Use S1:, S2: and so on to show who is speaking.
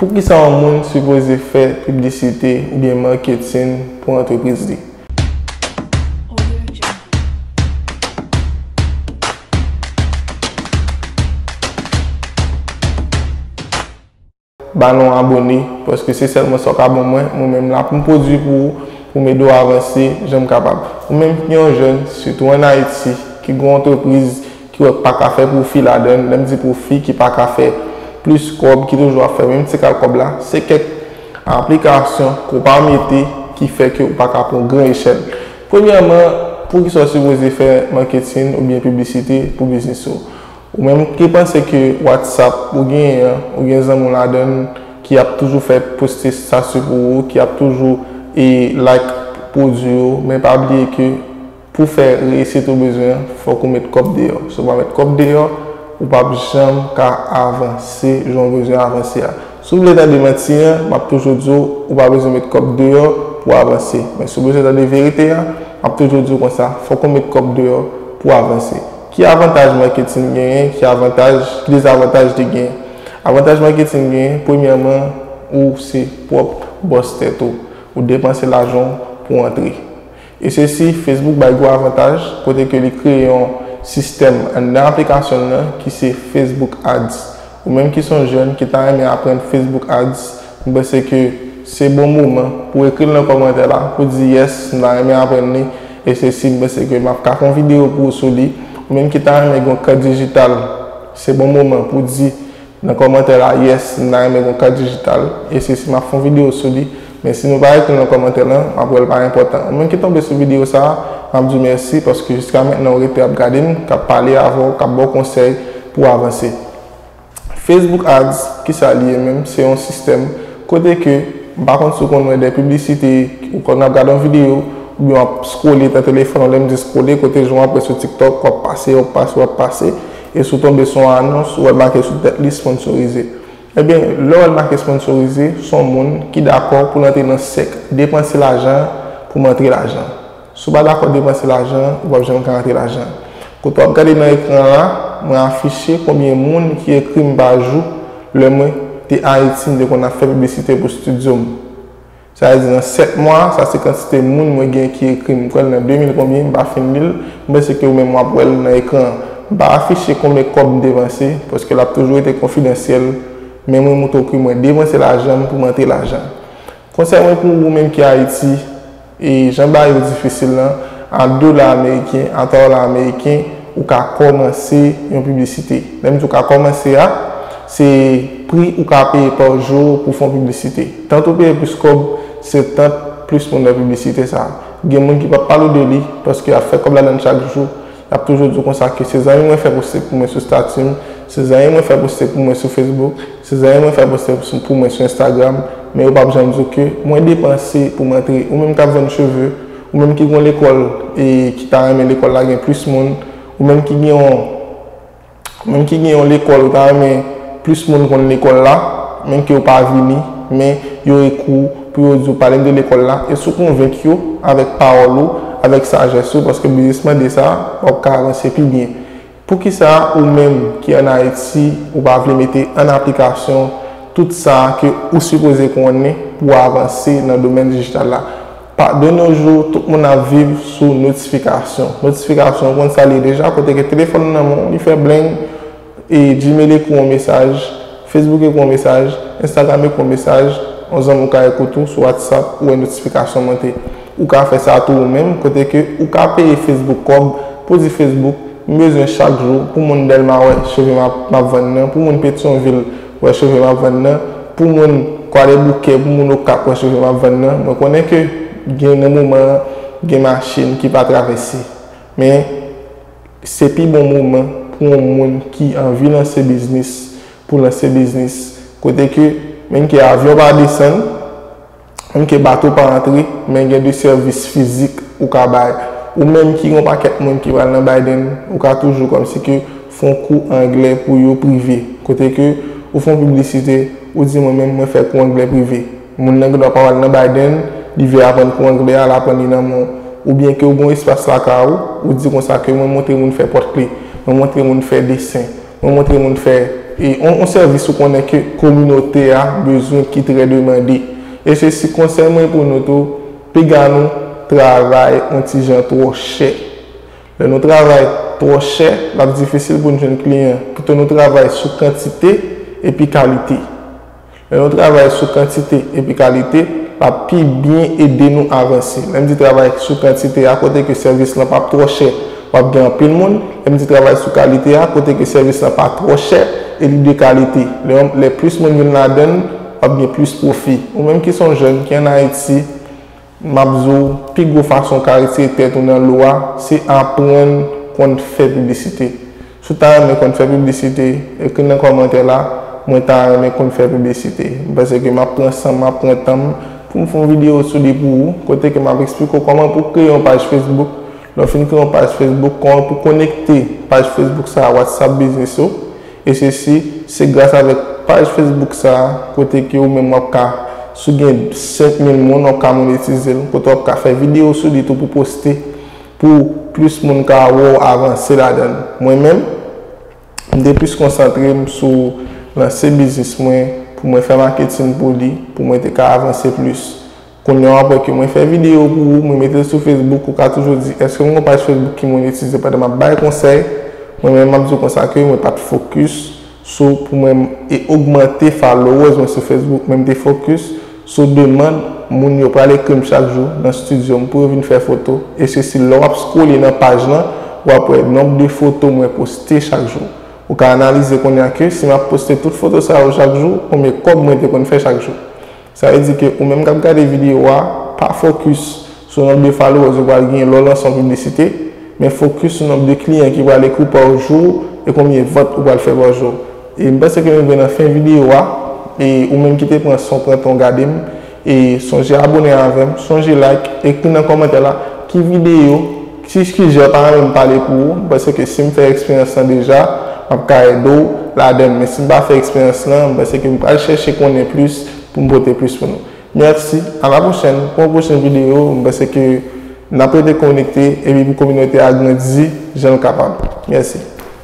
S1: Poukisa yon moun sipoze fè piblisite oubyen marketing pou antrepriz li? Ba nou abone paske se sèlman sa w ka ban mwen, mwen menm m la pou m pwodwi pou ou, pou m ede w avanse jan m kapab. Ou menm ki yon jèn, sitou an Ayiti, ki gen yon antrepriz, ki wè pa ka fè pwofi ladann, lè m di pwofi ki pa ka fè plis kòb, ki toujou ap fè menm ti kal kòb la, se kèk aplikasyon ke w pa mete ki fè ke w pa ka pran gran echèl. Premyèman, poukisa w sipoze fè maketin oubyen piblisite pou biznis ou? Ou menm ki panse ke Whatsapp ou genyen an, ou gen zanmi w ladann ki ap toujou fè poste stati pou ou, ki ap toujou like pwodwi yo, men pa bliye ke. Pou fè reyisit ou bezwen fòk ou met kòb deyò. Si ou pa met kòb deyò, ou p ap janm ka avanse jan ou bezwen avanse a. Si ou vle tande manti an, m ap toujou di w ou pa bezwen met kòb deyò pou w avanse. Men si ou bezwen tande verite an, m ap toujou di w konsa, fòk ou met kòb deyò pou w avanse. Ki avantaj maketin genyen? Ki avantaj, ki dezavantaj li genyen? Avantaj maketin genyen, premyèman, ou se pwòp bòs tèt ou. Ou depanse lajan w pou w antre. E se si Facebook bay gwo avantaj kote ke li kreye yon sistèm anndan aplikasyon l nan ki se Facebook Ads. Ou menm ki son jèn ki ta renmen aprann Facebook Ads, m panse ke se bon moman pou ekri l nan kòmantè la pou di yes m ta renmen aprann li e se si m panse ke m ap ka fè yon videyo pou ou sou li. Ou menm ki ta renmen gen yon kant dijital, se bon moman pou di. Nan kòmantè la yes m ta renmen gon kat dijital e sesi map fon video sou li men si nou pa ekri nan kòmantè lan map wèl pa enpòtan ou menm ki tonbe sou video sa map diw mèsi paske jiska mentnan ou rete ap gadem kap pale avèw kap baw konsèy pouw avanse Facebook ads kisa li ye menm se yon sistèm kote ke m pa konn si ou konn wè dè piblisite ou konn ap gade yon video oubyen wap scrolle nan telefòn ou lèm di scrolle kote jan wap wè sou tiktok wap pase wap pase wap pase. E si w tonbe sou yon anons, ou wè l make sou tèt li Sponsorize. Ebyen, lè w wè l make Sponsorize, s on moun ki dakò pou l antre nan sèk Depanse lajan an pou m antre lajan an. Si w pa dakò depanse lajan an, ou p ap janm ka antre lajan an. Kote w ap gade nan ekran an la, mwen afiche konbyen moun ki ekri m pa jou lè mwen te Ayiti m te konn ap fè piblisite pou stidyo m. Sa vle di nan 7 mwa, sa se kantite moun mwen gen ki ekri m. M kwè l nan 2000 konbyen, m pa fin li l. M panse ke ou menm w ap wè l nan ekran an. M pa afiche konbyen kòb m devanse, paske l ap toujou rete konfidansyèl, men mwen montre w ke mwen devanse lajan m pou m antre lajan. Konsèy mwen pou ou menm ki Ayiti, e jan bagay yo difisil lan, a dola ameriken, a 3 dola ameriken, ou ka kòmanse yon piblisite. Lè m di w ka kòmanse a, Se pri ou ka peye pa jou pou fon piblisite. Tant ou peye plis kòb, se tant plis moun wè piblisite sa. Gen moun ki pap pale w de li, paske yap fè kòb ladann chak jou. Yap toujou di w konsa ke se zanmi mwen fè poste pou mwen sou stati m, se zanmi mwen fè poste pou mwen sou Facebook, se zanmi mwen fè poste pou mwen sou Instagram, men yo pap janm di w ke mwen depanse pou m antre. Ou menm kap vann cheve, ou menm ki gen yon lekòl e ki ta renmen lekòl la gen plis moun, ou menm ki gen yon. Moun ki gen yon lekòl ou ta renmen plis moun konn lekòl la, men ke yo pa vini, men yo ekri w pou yo di w pale m de lekòl la, e si w konvenk yo avèk pawòl ou, avèk sajès ou, paske biznis mande sa, w ap ka avanse pi byen. Poukisa ou menm ki an Ayiti ou pa vle mete an aplikasyon tout sa ke ou sipoze konnen pou avanse nan domèn dijital la? Pa de no jou, tout moun ap viv sou notifikasyon. Notifikasyon, ou konn sa li ye deja, kote ke telefòn ou nan men w, li fè bleng, e Gmail ekri w yon mesaj, Facebook ekri w yon mesaj, Instagram ekri w yon mesaj, yon zanmi w ka ekri w tou sou WhatsApp, ou wè notifikasyon monte. Ou ka fè sa tou ou menm, kote ke ou ka peye Facebook kòb, pou di Facebook, m bezwen chak jou, pou moun Dèlma wè cheve m ap vann nan, pou moun Petyonvil, Wè sove map vann nan pou moun kwadèboukè pou moun okap wè sove map vann nan mwen konnen ke gen nan moman an gen machin ki pa travèse men se pi bon moman pou yon moun ki anvi lanse biznis pou lanse biznis kote ke menm ke avyon pa desann Ok bato pa antre men gen de sèvis fizik ou ka bay. Ou menm ki gen yon pakèt moun ki pral nan Biden ou ka toujou kòmsi ke fè yon kou anglè pou yo prive. Kote ke ou fè yon piblisite ou di mwen menm mwen fè kou anglè prive. Moun nan gen dwa pa pral nan Biden li vle aprann kou anglè a l aprann li nan men w. Oubyen ke ou gen yon espas lakay ou, ou di konsa ke mwen montre moun fè pòt kle, mwen montre moun fè desen. Mwen montre moun fè yon sèvis ou konnen ke kominote a bezwen ki trè demande. E se si konsèy mwen pou nou tou, piga nou travay yon ti jan twò chè. Lè nou travay twò chè, l ap difisil pou nou jwenn kliyan. Pito nou travay sou kantite epi kalite. Lè nou travay sou kantite epi kalite, l ap pi byen ede nou avanse. Lè m di travay sou kantite a, kote ke sèvis lan p ap twò chè, w ap gen anpil moun. Lè m di travay sou kalite a, kote ke sèvis lan pa twò chè e li de kalite. Lè yon, lè plis moun vin ladan l, w ap gen plis pwofi. Ou menm ki s on jèn, ki ann Ayiti, Map di w, pi gwo fason w ka retire tèt ou nan lo a, se aprann konn fè piblisite. Si w ta renmen konn fè piblisite, ekri nan kòmantè la, Mwen ta renmen konn fè piblisite. M panse ke map pran san m, map pran tan m pou m fè yon videyo sou li pou ou, kote ke map eksplike w kòman pou w kreye yon paj Facebook. Lè w fin kreye yon paj Facebook, kòman pou w konekte paj Facebook sa a WhatsApp Biznis ou. E sesi, se gras avèk paj Facebook sa a, kote ke ou menm wap ka, si w gen 5000 moun, wap ka monetize l, kote wap ka fè videyo sou li tou pou poste, pou plis moun ka wè w avanse ladan l. Mwen menm, m te plis konsantre m sou lanse biznis mwen, pou mwen fè maketin pou li, pou mwen te ka avanse plis. Kounye a apre ke mwen fè video pou ou, mwen mete l sou Facebook, ou ka toujou di, eske m gon paj Facebook ki monetize pandan map bay konsèy? Mwen menm map di w konsa ke mwen pat focus sou pou mwen e ogmante followers mwen sou Facebook, men m te focus sou demand moun yo pral ekri m chak jou nan studio m pou yo vin fè foto e sesi lè wap scrolle nan paj lan wap wè nomb de foto mwen poste chak jou. Ou ka analize kounye a ke si map poste tout foto sa yo chak jou, konbyen kòb mwen te konn fè chak jou? Sa vle di ke ou menm kap gade video a, pa focus sou nomb de followers ou pral genyen lè w lanse yon piblisite, men focus sou nomb de kliyan ki pral ekri w pa w jou e konbyen vant ou pral fè pa w jou. E m panse ke nou rive nan fen video a, e ou menm ki te pran san w pran tan w gade m, e sonje abone avè m, sonje like, ekri nan komantè la ki video Ti eskize yo pa renmen m pale pou ou, m panse ke si m fè eksperyans lan deja, m ap ka ede w ladan l, men si m pa fè eksperyans lan, m panse ke m pral chèche konnen plis pou m pote plis pou nou. Mèsi, a la pwochèn pou yon pwochen videyo, m panse ke n ap rete konekte epi pou kominote a grandi jan l kapab. Mèsi.